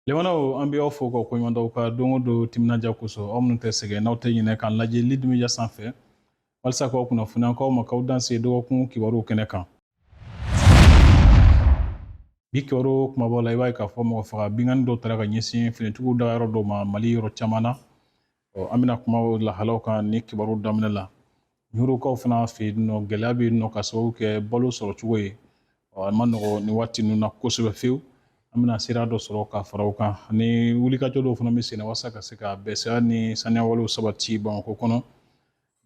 Limanaw an bɛ aw fo ka koɲumandɔn aw ka don o don timinadiya kosɔn aw minnu tɛ sɛgɛn n'aw tɛ ɲinɛ k'an lajɛ Lead Media sanfɛ walasa k'aw kunnafoni an k'aw ma k'aw danse dɔgɔkun kibaruw kɛnɛ kan bi kibaru kumabaw la i b'a ye k'a fɔ mɔgɔ faga binkanni dɔw taara ka ɲɛsin finitigiw dagayɔrɔ dɔw ma mali yɔrɔ caman na Ɔ an bɛna kuma o lahalaw kan ni kibaru daminɛ la ɲurukaw fana fɛ yen nɔ gɛlɛya bɛ yen nɔ ka sababu kɛ balo sɔrɔ cogo ye ɔ a ma nɔgɔ nin waati ninnu na kosɛbɛ fiyewu an bɛna sira dɔ sɔrɔ ka fara o kan ani wulikajɔ dɔw fana bɛ sen na walasa ka se ka bɛsɛya ni saniyawalew sabati bamakɔ kɔnɔ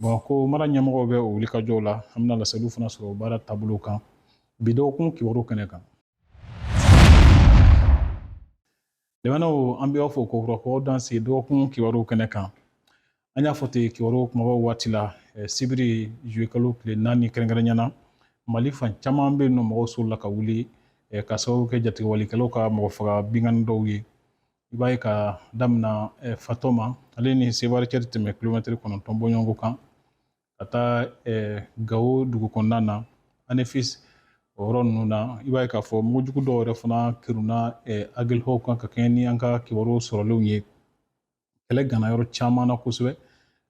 bamakɔ mara ɲɛmɔgɔw bɛ o wulikajɔw la an bɛna laseliw fana sɔrɔ baara taabolo kan bi dɔgɔkun kibaru kɛnɛ kan Limanaw an bɛ aw fo kokura k'aw danse dɔgɔkun kibaruw kɛnɛ kan an y'a fɔ ten kibaruw kumabaw waati la sibiri zuwekalo tile naani kɛrɛnkɛrɛnya na mali fan caman bɛ yen nɔ mɔgɔw solila ka wuli ka sababu kɛ jatigɛwalikɛlaw ka mɔgɔ faga binkanni dɔw ye i b'a ye ka damina fatɔma ale ni sevare cɛ tɛ tɛmɛ kilomɛtiri kɔnɔntɔn bɔɲɔgɔnko kan ka taa gawo dugu kɔnɔna na anefisi o yɔrɔ ninnu na i b'a ye k'a fɔ mugujugu dɔw yɛrɛ fana keruna agelɔki kan ka kɛɲɛ ni an ka kibaru sɔrɔlenw ye kɛlɛ gana yɔrɔ caman na kosɛbɛ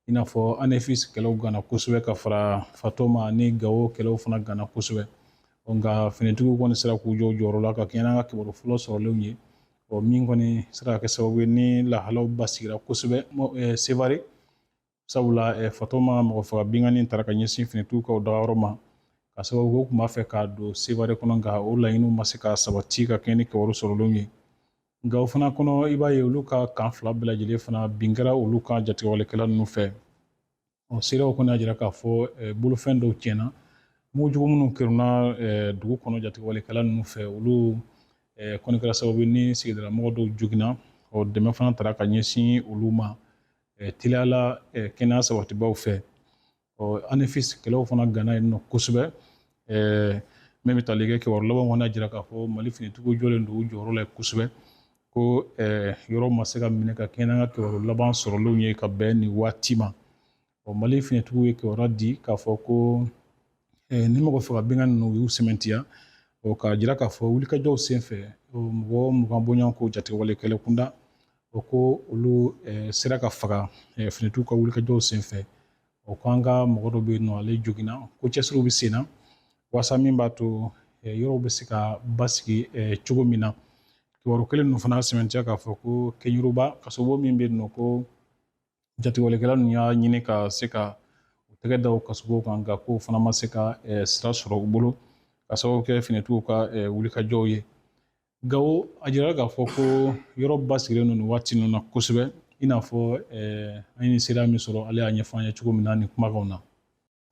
i n'a fɔ anefisi kɛlɛw gana kosɛbɛ ka fara fatɔma ni gawo kɛlɛw fana gana kosɛbɛ nka finitigiw kɔni sera k'u jɔ u jɔyɔrɔ la ka kɛɲɛ n'an ka kibaru fɔlɔ sɔrɔlenw ye ɔ min kɔni sera ka kɛ sababu ye ni lahalaw basigira kosɛbɛ sevare sabula eh, fatɔma mɔgɔ faga binkanni taara ka ɲɛsin finitigiw ka o dagayɔrɔ ma ka sababu kɛ u tun b'a fɛ ka don sevare kɔnɔ nka o laɲiniw ma se ka sabati ka kɛɲɛ ni kibaru sɔrɔlenw ye nka o fana kɔnɔ i b'a ye olu ka kan fila bɛɛ lajɛlen fana bin kɛra olu kan jatigɛwalekɛla ninnu fɛ ɔ seerew kɔni y'a jira k'a fɔ eh, bolofɛn dɔw tiɲɛna mugujugu minnu keruna eh, dugu kɔnɔ jatigɛwalekɛla ninnu fɛ olu eh, kɔni kɛra sababu ni sigidalamɔgɔ dɔw joginna ɔ dɛmɛ fana taara ka ɲɛsin olu ma teliya la kɛnɛya sabatibaaw fɛ ɔ anefisi kɛlɛw fana gana yen nɔ kosɛbɛ min bɛ tali kɛ kibaru laban kɔni y'a jira k'a fɔ mali finitigiw jɔlen don u jɔyɔrɔ la kosɛbɛ ko yɔrɔ ma se ka minɛ ka kɛɲɛ n'an ka kibaru laban sɔrɔlenw ye ka bɛn nin waati ma ɔ mali finitigiw ye kibaru di k'a fɔ ko ni mɔgɔ faga binkanni ninnu u y'u sɛmɛntiya ɔ k'a jira k'a fɔ wulikajɔw senfɛ mɔgɔ mugan bɔɲɔgɔnko jatigɛwalekɛla kunda O ko olu sera ka faga finitigiw ka wulikajɔw senfɛ o ko an ka mɔgɔ dɔ bɛ yen nɔ ale joginna ko cɛsiriw bɛ senna walasa min b'a to yɔrɔw bɛ se ka basigi cogo min na kibaru kelen ninnu fana sɛmɛntiya k'a fɔ ko keɲeruba kasobon min bɛ yen nɔ ko jatigɛwalekɛla ninnu y'a ɲini ka se ka u tɛgɛ da o kasobon kan nka k'o fana ma se ka sira sɔrɔ u bolo k'a sababu kɛ finitigiw ka wulikajɔw ye Gawo a jirala k'a fɔ ko yɔrɔ basigilen don nin waati ninnu na kosɛbɛ i n'a fɔ an ye seereya min sɔrɔ ale y'a ɲɛfɔ an ye cogo min na nin kumakanw na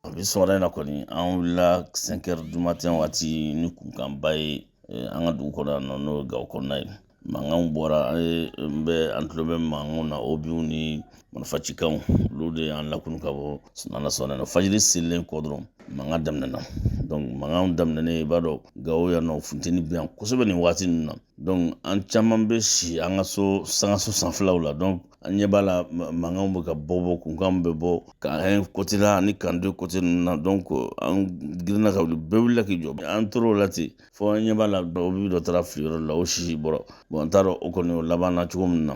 a bi sɔgɔmada in na kɔni an wulila 5 heures du matin waati ni kunkanba ye an ka dugu kɔnɔ yan nɔ n'o ye gawo kɔnɔna ye mankanw bɔra an ɲɛ bɛ an tulo bɛ mankanw na obiw ni marifa cikanw olu de y'an lakunun ka bɔ sunaa na Ala sɔnna fajiri selilen kɔ dɔrɔn mankan daminɛna mankan daminɛnen i b'a dɔn gawo yan nɔ funteni bɛ yan kosɛbɛ nin waati ninnu na an caman bɛ si an ka so sangaso sanfɛlaw la an ɲɛ b'a la mankanw bɛ ka bɔ bɔ kunkanw bɛ bɔ camp 1 côté la ani camp 2 côté ninnu na an girinna ka wuli bɛɛ wulila k'i jɔ an tor'o la ten fo an ɲɛ b'a la obi dɔ taara fili yɔrɔ la o sisi bɔra n t'a dɔn o kɔni o laban na cogo min na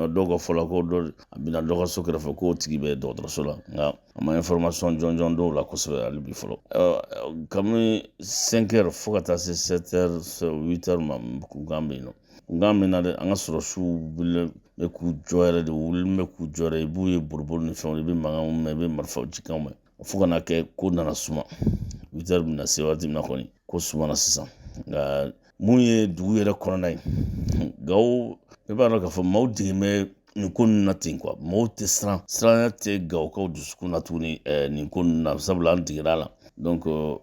dɔw ka fɔ la ko dɔ a binna dɔ ka so kɛrɛfɛ k'o tigi bɛ dɔgɔtɔrɔso la nka an ma information jɔnjɔn dɔn o la kosɛbɛ hali bi fɔlɔ kabini 5 heures fo ka taa se 7 heures 8 heures ma kunkan bɛ yen nɔ kunkan bɛ na dɛ an ka sɔrɔsiw wulilen bɛ k'u jɔ yɛrɛ de wulilen bɛ k'u jɔ yɛrɛ i b'u ye boliboli ni fɛnw i bɛ mankanw mɛn i bɛ marifaw cikanw mɛn fo ka na kɛ ko nana suma 8 heures bɛna se waati min na kɔni ko sumana sisan nka mun ye dugu yɛrɛ kɔnɔna ye gawo i b'a dɔn k'a fɔ maaw degelen bɛ nin ko ninnu na ten quoi maaw tɛ siran siranya tɛ gawokaw dusukun na tuguni nin ko ninnu na sabula an degera a la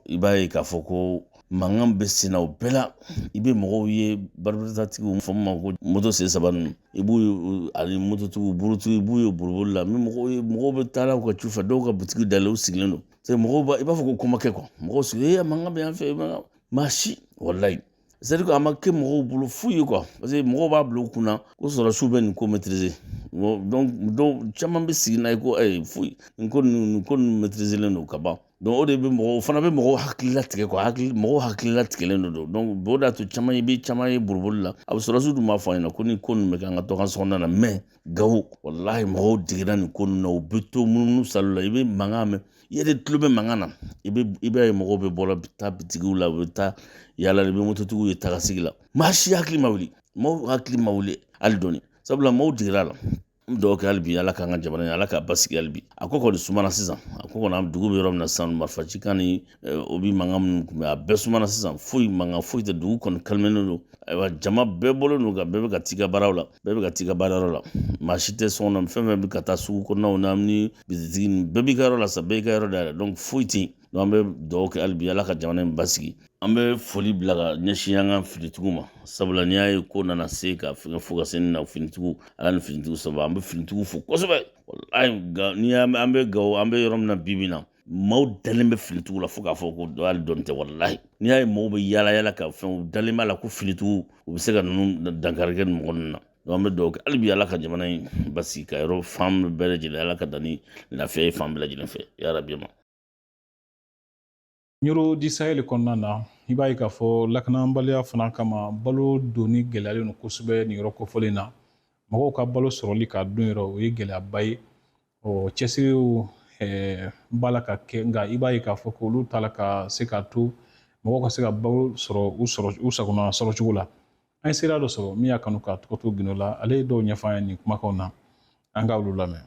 i b'a ye k'a fɔ ko mankan bɛ senna o bɛɛ la i bɛ mɔgɔw ye baribaritatigiw fɔ min ma ko moto sen saba ninnu i b'u ye ani mototigiw burutigiw i b'u ye boliboli la ni mɔgɔw ye mɔgɔw bɛ taa u ka ciw fɛ dɔw ka butigi dayɛlɛlen u sigilen don se mɔgɔw i b'a fɔ ko ko ma kɛ quoi mɔgɔw sigilen mankan bɛ yan fɛ maa si walayi c'est-à-dire a ma kɛ mɔgɔw bolo fu ye quoi parce que mɔgɔw b'a bila u kunna ko sɔrɔsiw bɛ nin ko maîtriser dɔw caman bɛ sigi n'a ye ko ayi foyi nin ko nin ko ninnu maîtriserlen don ka ban o de bɛ mɔgɔw o fana bɛ mɔgɔw hakili latigɛ k'u hakili mɔgɔw hakili latigɛlen de don o de y'a to caman i bɛ caman ye boliboli la a bɛ sɔrɔsiw dun b'a fɔ an ɲɛna ko ni ko ninnu bɛ kɛ an ka dogo an ka sokɔnɔna na mais gawo walahi mɔgɔw degera nin ko ninnu na u bɛ to munumunu salo la i bɛ mankan mɛn i yɛrɛ tulo bɛ mankan na i bɛ i b'a ye mɔgɔw bɛ bɔ la bɛ taa bitigiw la u bɛ taa yala i bɛ mototigiw ye tagasegin na maa si hakili ma wuli maaw hakili ma wuli hali dɔɔni sabula maaw degera la N bɛ dugawu kɛ hali bi ala k'an ka jamana in ala k'a basigi hali bi a ko kɔni sumana sisan a ko kɔni an dugu bɛ yɔrɔ min na sisan marifacikan ni obus mankan minnu kun bɛ a bɛɛ sumana sisan foyi mankan foyi tɛ dugu kɔni kalimenen don ayiwa jama bɛɛ bɔlen don ka bɛɛ bɛ ka t'i ka baaraw la bɛɛ bɛ ka t'i ka baarayɔrɔ la maa si tɛ so kɔnɔ fɛn fɛn bɛ ka taa sugu kɔnɔnaw na ni bitigi bɛɛ b'i ka yɔrɔ la sa bɛɛ y'i ka yɔrɔ dayɛlɛ donc foyi tɛ yen an bɛ dugawu kɛ hali bi ala ka jamana in basigi an bɛ foli bila ka ɲɛsin an ka finitigiw ma sabula n'i y'a ye ko nana se ka fɛn fo ka se nin na finitigiw ala ni finitigiw sababu an bɛ finitigiw fo kosɛbɛ ni an bɛ Gawo an bɛ yɔrɔ min na bi in na maaw dalen bɛ finitigiw la fo k'a fɔ ko hali dɔɔni tɛ walayi n'i y'a ye maaw bɛ yaala yaala ka fɛn u dalen b'a la ko finitigiw u bɛ se ka ninnu dankari kɛ nin mɔgɔ ninnu na an bɛ dugawu kɛ hali bi ala ka jamana in basigi ka yɔrɔ fan bɛɛ lajɛlen ala ka dan ni lafiya ye fan bɛɛ lajɛlen fɛ yarabi ma Ɲoro du Sahel kɔnɔna na i b'a ye k'a fɔ lakanabaliya fana kama balo donni gɛlɛyalen don kosɛbɛ nin yɔrɔ kofɔlen na mɔgɔw ka balo sɔrɔli k'a don yɔrɔ o ye gɛlɛyaba ye ɔ cɛsiriw b'a la ka kɛ nka i b'a ye k'a fɔ ko olu t'a la ka se k'a to mɔgɔw ka se ka balo sɔrɔ u sagona sɔrɔ cogo la an ye seereya dɔ sɔrɔ min y'a kanu k'a tɔgɔ to gindo la ale ye dɔw ɲɛfɔ an ye nin kumakanw na an ka olu lamɛn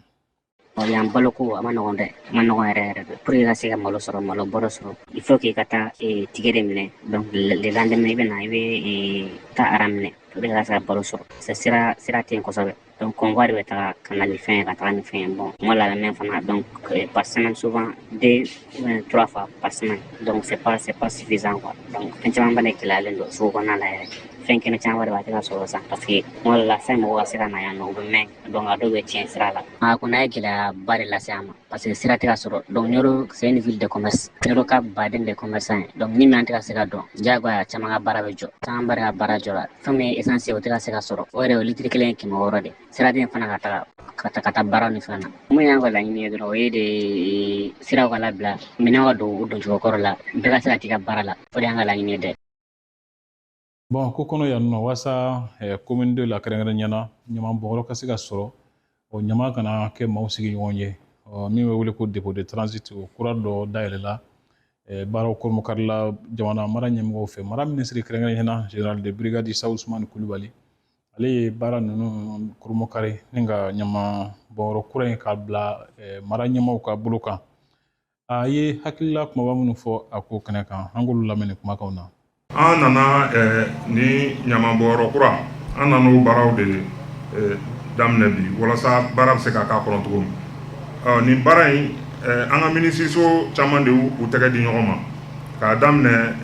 Ɔ, Yan baloko a ma nɔgɔn dɛ a ma nɔgɔn yɛrɛ yɛrɛ de pour que i ka se ka malo sɔrɔ malo bɔrɔ sɔrɔ il faut k'i ka taa eh, ticket de minɛ donc le le lendemain i bɛ na i bɛ eh, taa rang minɛ pour que i ka se ka balo sɔrɔ c'est sira sira tɛ yen kosɛbɛ donc convoi de bɛ taga ka na ni fɛn ye ka taga ni fɛn ye bon convoi là même fana donc eh, par semaine souvent deux ou bien trois fois par semaine donc c'est pas c'est pas suffisant quoi donc fɛn caman fana gɛlɛyalen don sugu kɔnɔna la yɛrɛ fɛn kɛnɛ caman yɛrɛ b'a tɛ ka sɔrɔ sisan parce que kuma dɔ la fɛn mɔgɔ ka se ka na yan nɔ u bɛ mɛɛn donc a dɔw bɛ tiɲɛ sira la a ko in ye gɛlɛyaba de lase an ma parce que sira tɛ ka sɔrɔ donc Ɲoro c'est une ville de commerce Ɲoro ka baden de commerçant ye donc ni minɛn tɛ ka se ka don diyagoya caman ka baara bɛ jɔ camanba de ka baara jɔra fɛn min ye essence ye o tɛ ka se ka sɔrɔ o yɛrɛ o litiri kelen ye kɛmɛ wɔɔrɔ de siraden fana ka taga ka ta ka taa baara ni fɛn na min y'an ka laɲini ye dɔrɔn o ye de siraw ka labila minɛn ka don u doncogo kɔrɔ la bɛɛ ka se ka t'i ka baara la o de y'an ka laɲini ye dɛ Bamakɔ kɔnɔ yan nɔ walasa komini deux la kɛrɛnkɛrɛnnenya la ɲamanbɔnyɔrɔ ka se ka sɔrɔ o ɲaman kana kɛ maaw sigiɲɔgɔn ye min bɛ wele ko dépôt de transit o kura dɔ dayɛlɛla baaraw kurunbonkarila jamana mara ɲɛmɔgɔw fɛ mara minisiri kɛrɛnkɛrɛnnenya la général de brigade Isa Usumani Kulubali ale ye baara ninnu kurunbonkari ni ka ɲamanbɔnyɔrɔ kura in k'a bila mara ɲɛmaaw ka bolo kan a ye hakilila kumaba minnu fɔ a ko kɛnɛ kan an k'olu lamɛn nin kumakanw na an nana eh, nin ɲamanbɔnyɔrɔ kura an nana o baaraw de eh, daminɛ bi walasa baara bɛ se ka k'a kɔnɔ cogo min eh, nin baara in an ka minisiriso caman de y'u tɛgɛ di ɲɔgɔn ma k'a daminɛ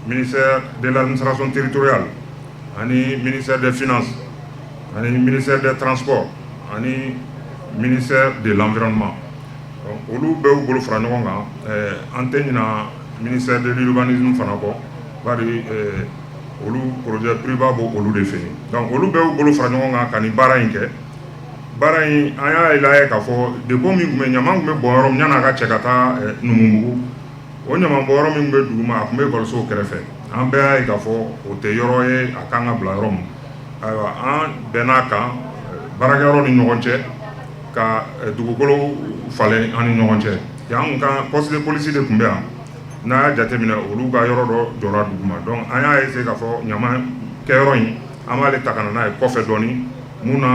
ministère de l'administration territoriale ani ministère des finances ani ministère des transports ani ministère de l'environnement olu bɛ u bolo fara ɲɔgɔn kan an tɛ ɲina ministère de l'urbanisme fana kɔ bari olu projet approuvé bɔ olu de fɛ yen olu b'u bolo fara ɲɔgɔn kan ka nin baara in kɛ baara in an y'a lajɛ k'a fɔ dépôt min tun bɛ ɲaman tun bɛ bɔn yɔrɔ min k'a cɛ ka taa Numubugu o ɲaman bɔn yɔrɔ min bɛ duguma a tun bɛ ekɔliso kɛrɛfɛ an bɛɛ y'a ye k'a fɔ o tɛ yɔrɔ ye a ka kan ka bila yɔrɔ min ayiwa an bɛnn'a kan baarakɛyɔrɔ ni ɲɔgɔn cɛ ka dugukolo falen an ni ɲɔgɔn cɛ yan ka poste de police de tun bɛ yan n'a y'a jateminɛ olu ka yɔrɔ dɔ jɔra duguma donc an y'a essayer k'a fɔ ɲaman kɛyɔrɔ in an b'ale ta ka na n'a ye kɔfɛ dɔɔnin mun na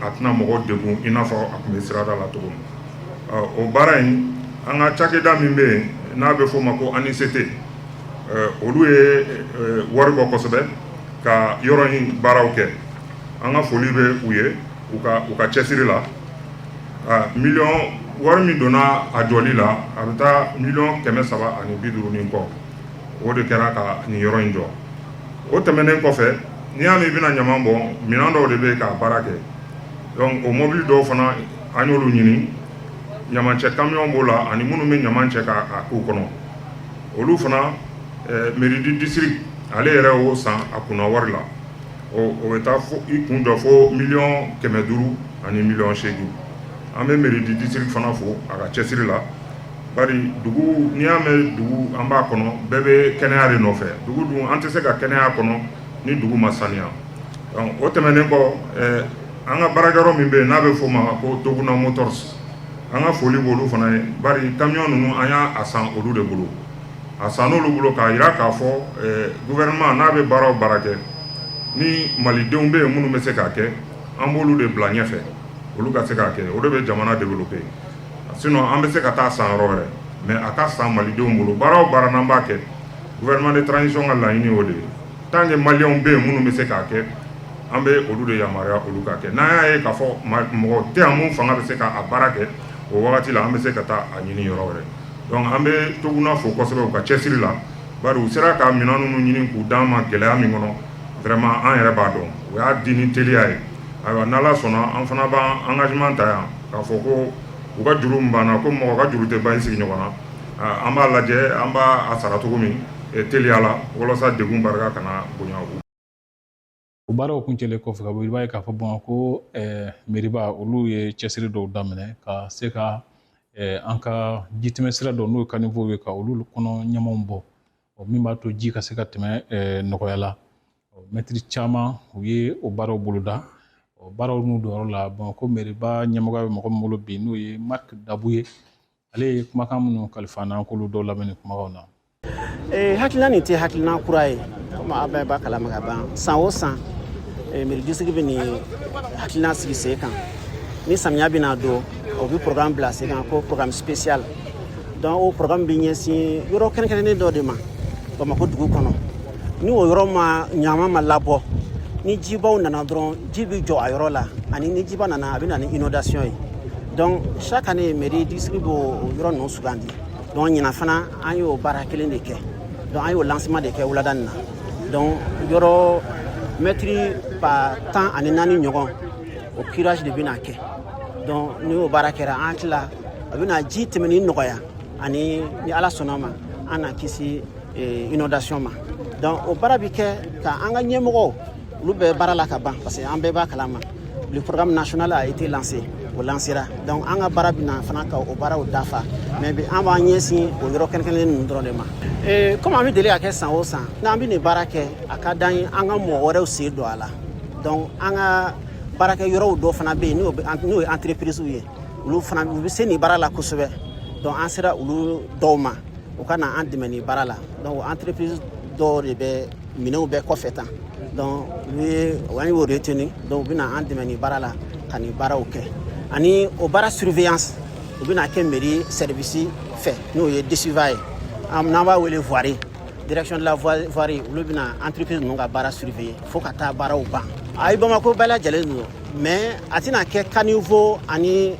a tɛna mɔgɔw degun i n'a fɔ a tun bɛ sirada la cogo min o baara in an ka cakɛda min bɛ yen n'a bɛ f'o ma ko ANICT olu ye wari bɔ kosɛbɛ ka yɔrɔ in baaraw kɛ an ka foli bɛ u ye u ka cɛsiri la miliyɔn wari min donna a jɔli la a bɛ taa miliyɔn kɛmɛ saba ani bi duuru ni kɔ o de kɛra ka nin yɔrɔ in jɔ o tɛmɛnen kɔfɛ n'i y'a mɛn i bɛna ɲaman bɔ minɛn dɔw de bɛ k'a baara kɛ donc o mɔbili dɔw fana an y'olu ɲini ɲamancɛ kamiyɔn b'o la ani minnu bɛ ɲaman cɛ k'a k'u kɔnɔ olu fana Mairie du district ale yɛrɛ y'o san a kunna wari la ɔ o bɛ taa i kun jɔ fo miliyɔn kɛmɛ duuru ani miliyɔn seegin an bɛ mairie du district fana fo a ka cɛsiri la bari dugu n'i y'a mɛn dugu an b'a kɔnɔ bɛɛ bɛ kɛnɛya de nɔfɛ dugu dun an tɛ se ka kɛnɛya kɔnɔ ni dugu ma saniya o tɛmɛnen kɔ an ka baarakɛyɔrɔ min bɛ yen n'a bɛ f'o ma ko Toguna Motors an ka foli b'olu fana ye bari kamiyɔn ninnu an y'a san olu de bolo a sann'olu bolo k'a jira k'a fɔ gouvernement n'a bɛ baara o baara kɛ ni malidenw bɛ yen minnu bɛ se k'a kɛ an b'olu de bila ɲɛfɛ olu ka se k'a kɛ o de bɛ jamana développer sinon an bɛ se ka taa san yɔrɔ wɛrɛ mais a ka san malidenw bolo baara o baara n'an b'a kɛ gouvernement de transition ka laɲini o de ye tant que malidenw bɛ yen minnu bɛ se k'a kɛ an bɛ olu de yamaruya olu k'a kɛ n'an y'a ye k'a fɔ mɔgɔ tɛ minnu fanga bɛ se k'a baara kɛ o wagati la an bɛ se ka taa a ɲini yɔrɔ wɛrɛ Dɔnku an bɛ Toguna fo kosɛbɛ u ka cɛsiri la bari u sera ka minɛn ninnu ɲini k'u d'an ma gɛlɛya min kɔnɔ vraiment an yɛrɛ b'a dɔn u y'a di ni teliya ye ayiwa n'Ala sɔnna an fana b'an engagement ta yan k'a fɔ ko u ka juru min b'an na komi mɔgɔ ka juru tɛ ban i sigiɲɔgɔn na an b'a lajɛ an b'a sara cogo min teliya la walasa degun barika kana bonya. o baaraw kuncɛlen kɔfɛ ka bɔ i b'a ye k'a fɔ bamakɔ mɛriba olu ye cɛsiri dɔw daminɛ ka se ka an ka jitɛmɛ sira dɔ n'o ye caniveau ye ka olu kɔnɔ ɲamanw bɔ ɔ min b'a to ji ka se ka tɛmɛ nɔgɔya la mɛtiri caman u ye o baaraw boloda baaraw n'u dɔnyɔrɔ la bamakɔ mɛriba ɲɛmɔgɔya bɛ mɔgɔ min bolo bi n'o ye mariki dabu ye ale ye kumakan minnu kalifa an na an k'olu dɔw lamɛn nin kumakanw na ee, hakilina nin tɛ hakilina kura ye komi aw bɛɛ b'a kalama ka ban san o san ee, mairie district bɛ nin hakilina sigi sen kan ni samiya bɛna don o bɛ programme bila sen kan ko programme spécial donc o programme bɛ ɲɛsin yɔrɔ kɛrɛnkɛrɛnnen dɔ de ma bamakɔ dugu kɔnɔ ni o yɔrɔ ma ɲaman ma labɔ ni jibaw nana dɔrɔn ji bɛ jɔ a yɔrɔ la ani ni jiba nana a bɛ na ni inondation ye donc chaque année mairie district b'o yɔrɔ ninnu sugandi donc ɲinan fana an y'o baara kelen de kɛ donc an y'o lancement de kɛ wulada nin na donc yɔrɔ mɛtiri ba tan ani naani ɲɔgɔn o curage de bɛna kɛ donc ni o baara kɛra an hakili la a bɛna ji tɛmɛni nɔgɔya ani ni ala sɔnna ma an na kisi eh, inondation ma donc o baara bɛ kɛ ka an ka ɲɛmɔgɔw olu bɛ baara la ka ban parce que an bɛɛ b'a kalama le programme national a été lancé o lansera donc an ka baara bɛ na fana ka o baaraw dafa mais bi an b'an ɲɛsin o yɔrɔ kɛrɛnkɛrɛnnen ninnu dɔrɔn de ma eh, komi an bɛ deli k'a kɛ san o san n'an bɛ nin baara kɛ a ka d'an ye an ka mɔgɔ wɛrɛw sen don a la donc an ka baarakɛ yɔrɔw dɔ fana bɛ yen n'o ye entreprise ye olu fana u bɛ se nin baara la kosɛbɛ donc an sera olu dɔw ma u ka na an dɛmɛ nin baara la donc entreprise dɔw de bɛ minɛnw bɛɛ kɔfɛ tan donc u ye an y'o retenu donc u bɛna an dɛmɛ nin baara la ka nin baaraw kɛ ani o baara surveillance o bɛna kɛ mairie service fɛ n'o ye DSUVA ye n'an b'a wele voirie direction de la voirie olu bɛna entreprise ninnu ka baara surveiller fo ka taa baaraw ban ayi bamako bɛɛ lajɛlen don mais a tɛna kɛ caniveau ani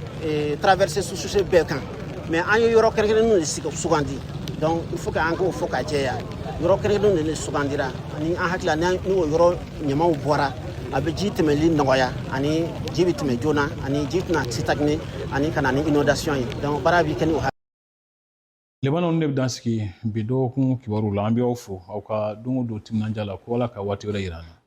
traversée sous-chaussée bɛɛ kan mais an ye yɔrɔ kɛrɛnkɛrɛnnenw de sugandi donc il faut que an k'o fɔ ka jɛya yɔrɔ kɛrɛnkɛrɛnnenw de sugandira ani an hakili la ni o yɔrɔ ɲamanw bɔra a bɛ ji tɛmɛli nɔgɔya ani ji bɛ tɛmɛ joona ani ji tɛna stagner ani ka na ni inondation ye donc baara bɛ kɛ ni o laban na ne bɛ dan sigi bi dɔgɔkun kibaru la an bɛ aw fo aw ka don o don timinandiya la ko ala ka waati wɛrɛ yira an na